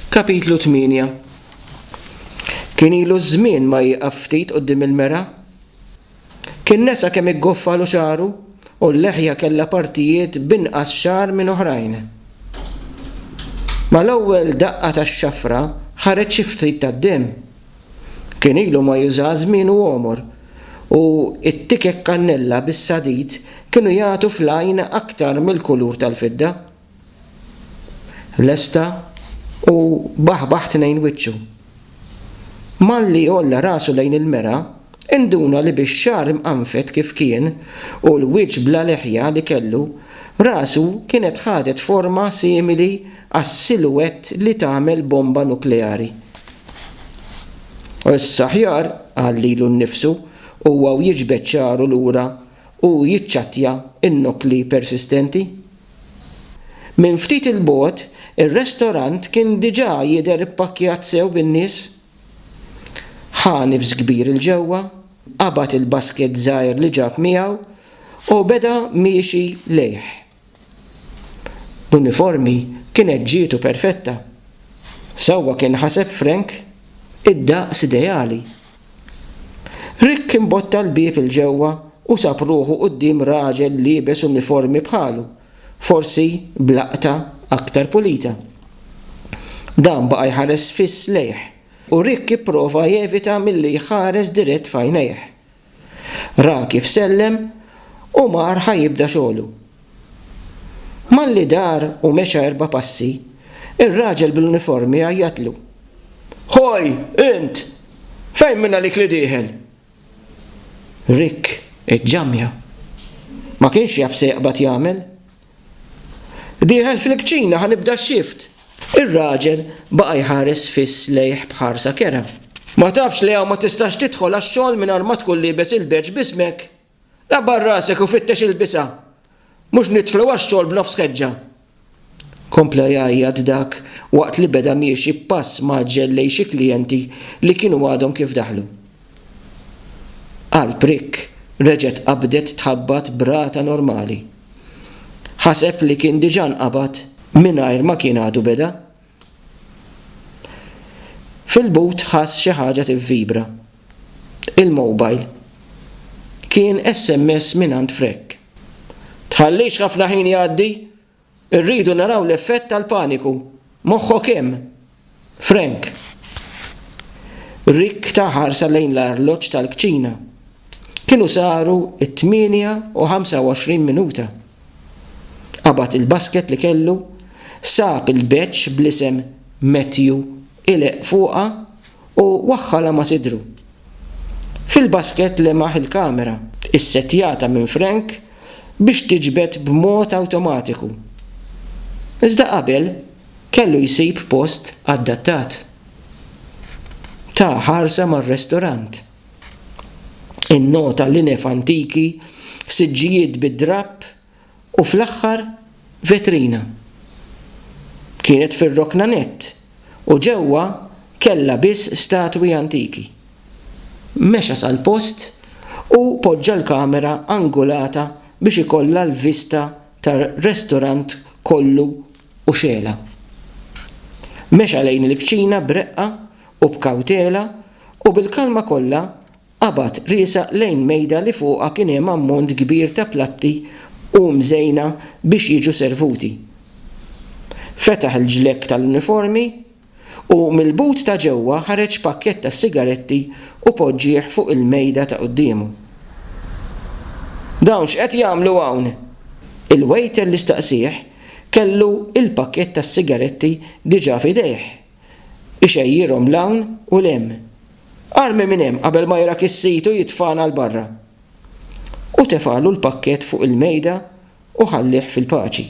Kapitlu 8 Kien ilu żmien ma jieqaf ftit quddiem il-mera. Kien nesa kemm iggoffalu xagħru u l-leħja kellha partijiet b'inqas xagħar minn oħrajn. Mal-ewwel daqqa tax-xafra ħareġ xi ftit tad-demm. Kien ilu ma juża żmienu għomor u t-tikek kannella bis-sadid kienu jagħtu fl-għajn aktar mill-kulur tal-fidda. Lesta u baħbaħ tnejn wiċċu. Malli għolla rasu lejn il-mera, induna li bix-xagħar imqanfed kif kien u l-wiċċ bla leħja li kellu, rasu kienet ħadet forma simili għas-silhouette li tagħmel bomba nukleari. Issa aħjar, qal lilu nnifsu, huwa u jiġbed xagħru lura u jiċċattja n-nukli persistenti. Minn ftit 'il bogħod, ir-restorant kien diġà jidher ippakkjat sew bin-nies. Ħa nifs kbir 'il ġewwa, qabad il-basket żgħir li ġab miegħu u beda miexi lejh. L-uniformi kienet ġietu perfetta. Sewwa kien ħaseb Frank, id-daqs ideali! Rick imbotta l-bieb 'il ġewwa u sab ruħu quddiem raġel liebes uniformi bħalu, forsi b'laqta aktar pulita. Dan baqa' jħares fiss lejh, u Rick ipprova jevita milli jħares dirett f'għajnejh. Ra kif sellem u mar ħa jibda xogħlu. Malli dar u mexa erba' passi, ir-raġel bl-uniformi għajjatlu, Hoj, int! Fejn minn għalik li dieħel? Rick iġġamja. Ma kienx jaf se jaqbad jagħmel. Dieħel fil-kċina ħa nibda x-xift! Ir-raġel baqa' jħares fiss lejh b'ħarsa kerha. Ma tafx li hawn ma tistax tidħol għax-xogħol mingħajr ma tkun liebes il-badge b'ismek? Qabar rasek u fittex il-bisgħa. Mhux nidħlu għax-xogħol b'nofs ħeġġa. Kompla jgħajjat dak waqt li beda miexi b'pass mgħaġġel lejn xi klijenti li kienu għadhom kif daħlu. Qalb Rick reġgħet qabdet tħabbat b'rata normali. Ħaseb li kien diġà nqabad mingħajr ma kien għadu beda. Fil-but ħass xi ħaġa tivvibra. Il-mowbajl. Kien SMS mingħand Frek. Tħallix ħafna ħin jgħaddi! Irridu naraw l-effett tal-paniku. Moħħok hemm! Frank. Rick ta ħarsa lejn l-arloġġ tal-kċina. Kienu saru t-tmienja u ħamsa u għoxrin minuta. Qabad il-basket li kellu, sab il-badge bl-isem Matthew ileqq fuqha u waħħalha ma' sidru. Fil-basket lemaħ il-kamera, issettjata minn Frank biex tiġbed b'mod awtomatiku. Iżda qabel kellu jsib post adattat. Ta ħarsa mar-restorant. Innota linef antiki, siġġijiet bid-drapp u fl-aħħar vetrina. Kienet fir-rokna nett u ġewwa kellha biss statwi antiki. Mexa sal-post u poġġa l-kamera angulata biex ikollha l-vista tar-restorant kollu u xegħla. Mexa lejn il-kċina b'reqqa u b'kawtela u bil-kalma kollha qabad riesaq lejn mejda li fuqha kien hemm ammont kbir ta' platti u mżejna biex jiġu servuti. Fetaħ il-ġlekk tal-uniformi u mill-but ta' ġewwa ħareġ pakkett ta' sigaretti u poġġieh fuq il-mejda ta' quddiemu. Dawn x'qed jagħmlu hawn? Il-wejter li staqsieh kellu l-pakkett tas-sigaretti diġà f'idejh. ixejjirhom 'l hawn u 'l hemm. Armi minn hemm qabel ma jrak is-sid u jitfagħna 'l barra. U tefagħlu l-pakkett fuq il-mejda u ħallih fil-paċi.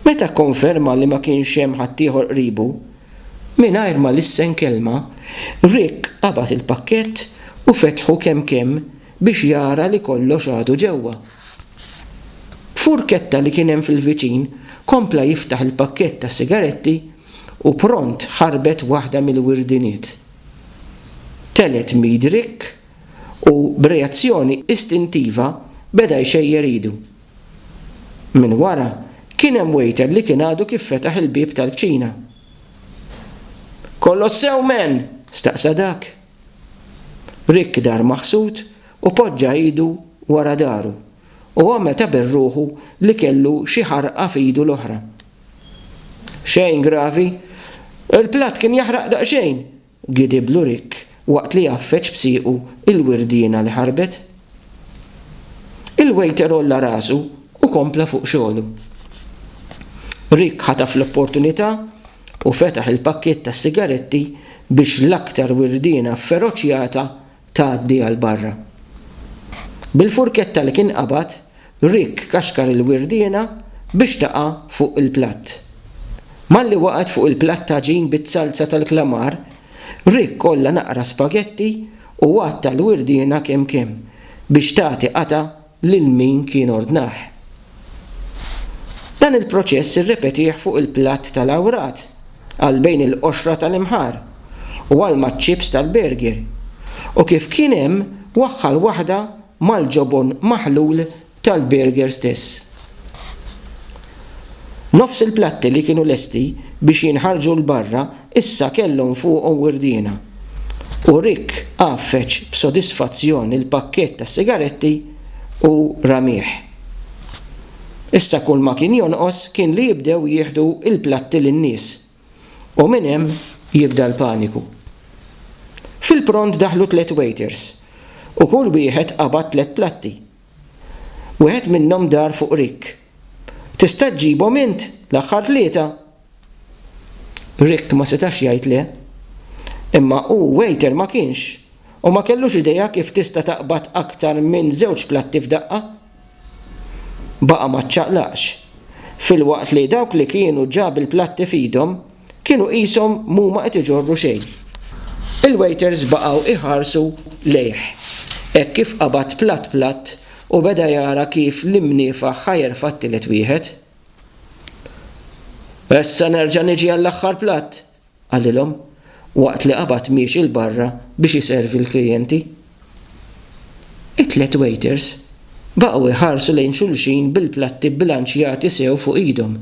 Meta kkonferma li ma kienx hemm ħaddieħor qribu, mingħajr ma lissen kelma, Rick qabad il-pakkett u fetħu kemm kemm biex jara li kollox għadu ġewwa. F'furketta li kien hemm fil-viċin, kompla jiftaħ il-pakkett ta' sigaretti u pront ħarbet waħda mill-wirdiniet. Telgħet m'id Rick u b'reazzjoni istintiva beda jxejjer idu. Minn wara kien hemm waiter li kien għadu kif fetaħ il-bieb tal-kċina. Kollox sew, man? staqsa dak. Rick dar maħsud u poġġa idu wara dahru u għamel ta' berruħu li kellu xi ħarqa f'idu l-oħra. Xejn gravi. Il-platt kien jaħraq daqsxejn, gidiblu Rick waqt li għaffeġ b'siequ l-wirdiena li ħarbet. Il-wejter għolla rasu u kompla fuq xogħlu. Rick ħataf l-opportunità u fetaħ il-pakkiett tas-sigaretti biex l-aktar wirdiena fferoċjata tgħaddi għal barra. Bil-furketta li kien qabad, Rick kaxkar il-wirdiena biex taqa' fuq il-platt. Malli waqgħet fuq il-platt t'għaġin biz-zalza tal-klamar, Rick għolla naqra spagetti u għatta l-wirdiena kemm kemm biex tagħti qatgħa lil min kien ordnah. Dan il-proċess irrepetih fuq il-platt tal-awrat, għal bejn il-qoxra tal-imħar, u għal maċ-ċips tal-bergir, u kif kien hemm waħħal waħda mal-ġobon maħlul tal-bergir stess. Nofs il-platti li kienu lesti biex jinħarġu 'l barra Issa kellhom fuqhom wirdiena, u Rick għaffeġ b'sodisfazzjon il-pakkett tas-sigaretti u ramih. Issa kulma kien jonqos kien li jibdew jieħdu l-platti lin-nies, u minn hemm jibda l-paniku. Fil-pront daħlu tliet waiters, u kull wieħed qabad tliet platti. Wieħed minnhom dar fuq Rick. Tista' ġġibhom int, l-aħħar tlieta? Rick ma setax jgħid le. Imma hu waiter ma kienx, u ma kellux idea kif tista' taqbad aktar minn żewġ platti f'daqqa. Baqa' ma ċċaqlaqx, filwaqt li dawk li kienu ġa bil-platti f'idhom kienu qishom m'huma qed iġorru xejn. Il-waiters baqgħu jħarsu lejh hekk kif qabad platt platt u beda jara kif l-imniefaħ ħa jerfa' t-tielet wieħed. Issa nerġa' niġi għall-aħħar platt, qalilhom, waqt li qabad miexi 'l barra biex iservi l-klijenti. It-tliet waiters baqgħu jħarsu lejn xulxin bil-platti bbilanċjati sew fuq idhom.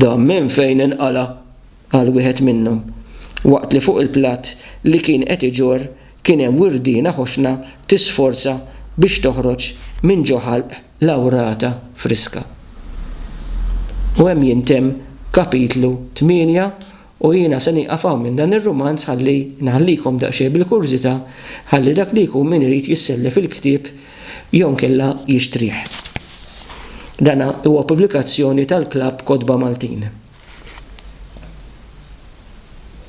Dan minn fejn inqala', qal wieħed minnhom, waqt li fuq il-platt li kien qed iġorr kien hemm wirdiena ħoxna tisforza biex toħroġ minn ġo ħalq. lawrata friska. U hemm jintemm kapitlu tmienja u jiena se nieqaf hawn minn dan ir-rumanz ħalli nħallikom daqsxejn bil-kurżità ħalli dak li jkun min irid jissellef il-ktieb jew inkella jixtrih. Dan huwa pubblikazzjoni tal-Klabb Kotba Maltin.